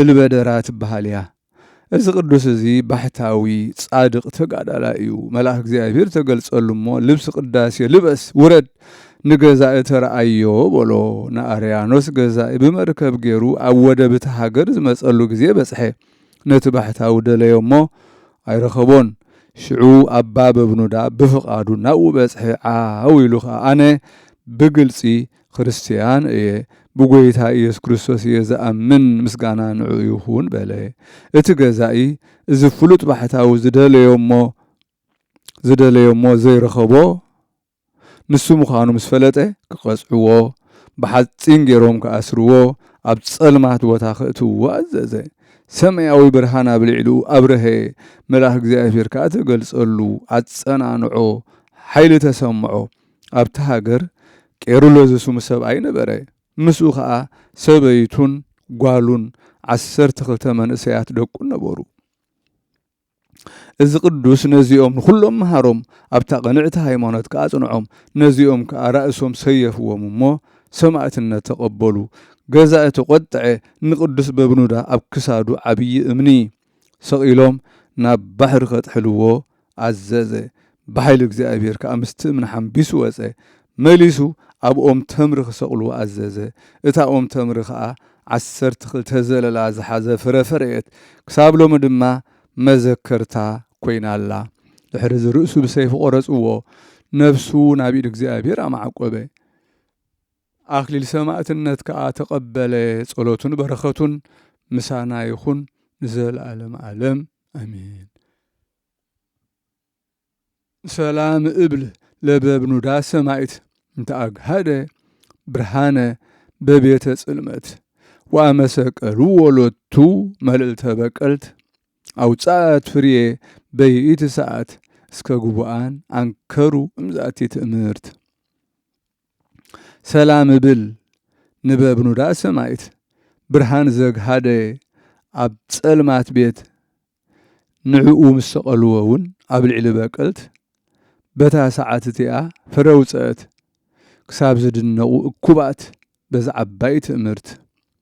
እልበደራ ትበሃል እያ። እዚ ቅዱስ እዚ ባሕታዊ ጻድቅ ተጋዳላይ እዩ። መልኣክ እግዚኣብሔር ተገልጸሉ እሞ ልብሲ ቅዳሴ ልበስ ውረድ ንገዛኢ ተርኣዮ በሎ። ንኣርያኖስ ገዛኢ ብመርከብ ገይሩ ኣብ ወደብ እቲ ሃገር ዝመጸሉ ግዜ በጽሐ። ነቲ ባሕታዊ ደለዮ እሞ ኣይረኸቦን። ሽዑ ኣባ በብኑዳ ብፍቃዱ ናብኡ በጽሐ። ዓው ኢሉ ከኣ ኣነ ብግልጺ ክርስትያን እየ፣ ብጐይታ ኢየሱስ ክርስቶስ እየ ዝኣምን፣ ምስጋና ንዕኡ ይኹን በለ። እቲ ገዛኢ እዚ ፍሉጥ ባሕታዊ ዝደለዮ'ሞ ዝደለዮ'ሞ ዘይረኸቦ ንሱ ምዃኑ ምስ ፈለጠ ክቐጽዕዎ፣ ብሓጺን ገይሮም ክኣስርዎ፣ ኣብ ጸልማት ቦታ ከእትውዎ ኣዘዘ። ሰማያዊ ብርሃን ኣብ ልዕሊኡ ኣብርሀ፣ መልኣኽ እግዚኣብሔር ከኣ ተገልጸሉ፣ ኣጸናንዖ፣ ሓይሊ ተሰምዖ፣ ኣብታ ሃገር ቄሩሎ ዝስሙ ሰብኣይ ነበረ። ምስኡ ኸኣ ሰበይቱን ጓሉን ዓሰርተ ክልተ መንእሰያት ደቁን ነበሩ። እዚ ቅዱስ ነዚኦም ንዅሎም መሃሮም፣ ኣብታ ቕንዕቲ ሃይማኖት ከኣ ኣጽንዖም። ነዚኦም ከኣ ራእሶም ሰየፍዎም እሞ፣ ሰማእትነት ተቐበሉ። ገዛኢ ተቖጥዐ፣ ንቅዱስ በብኑዳ ኣብ ክሳዱ ዓብዪ እምኒ። ስቕ ኢሎም ናብ ባሕሪ ኼጥሕልዎ ኣዘዘ። ብሓይሊ እግዚኣብሄር ከኣ ምስቲ እምኒ ሓምቢሱ ወጸ። መሊሱ ኣብ ኦም ተምሪ ኺሰቕልዎ ኣዘዘ። እታ ኦም ተምሪ ኸኣ ዓሰርተ ኽልተ ዘለላ ዝሓዘ ፍረ ፈረየት፣ ክሳብ ሎሚ ድማ መዘከርታ ኰይና ኣላ። ድሕሪ እዚ ርእሱ ብሰይፊ ቈረጽዎ፣ ነፍሱ ናብ ኢድ እግዚኣብሄር ኣማዕቈበ። ኣክሊል ሰማእትነት ከኣ ተቀበለ ጸሎቱን በረከቱን ምሳና ይኩን ንዘለኣለም ኣለም ኣሜን። ሰላም እብል ለበብኑዳ ሰማይት እንተ ኣግሃደ ብርሃነ በቤተ ጽልመት ወኣመሰቀልዎ ሎቱ መልእልተ በቀልት ኣውጻት ፍርየ በይኢቲ ሰዓት እስከ ግቡኣን ኣንከሩ እምዛቲ ትእምርት ሰላም እብል ንበብኑዳ ሰማይት ብርሃን ዘግሃደ ኣብ ጸልማት ቤት ንዕኡ ምስ ሰቀልዎ ውን ኣብ ልዕሊ በቀልት በታ ሰዓት እቲኣ ፍረ ውጸእት ክሳብ ዝድነቁ እኩባት በዛ ዓባይ ትእምርት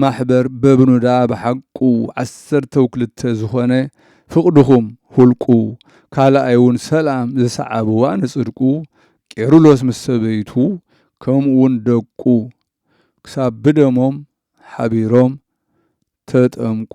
ማሕበር በብኑዳ ብሓቁ ዓሰርተው ክልተ ዝኾነ ፍቅድኹም ሁልቁ ካልኣይ ውን ሰላም ዝሰዓብዋ ንጽድቁ ቄሩሎስ ምስ ሰበይቱ ከምኡ ውን ደቁ ክሳብ ብደሞም ሓቢሮም ተጠምቁ።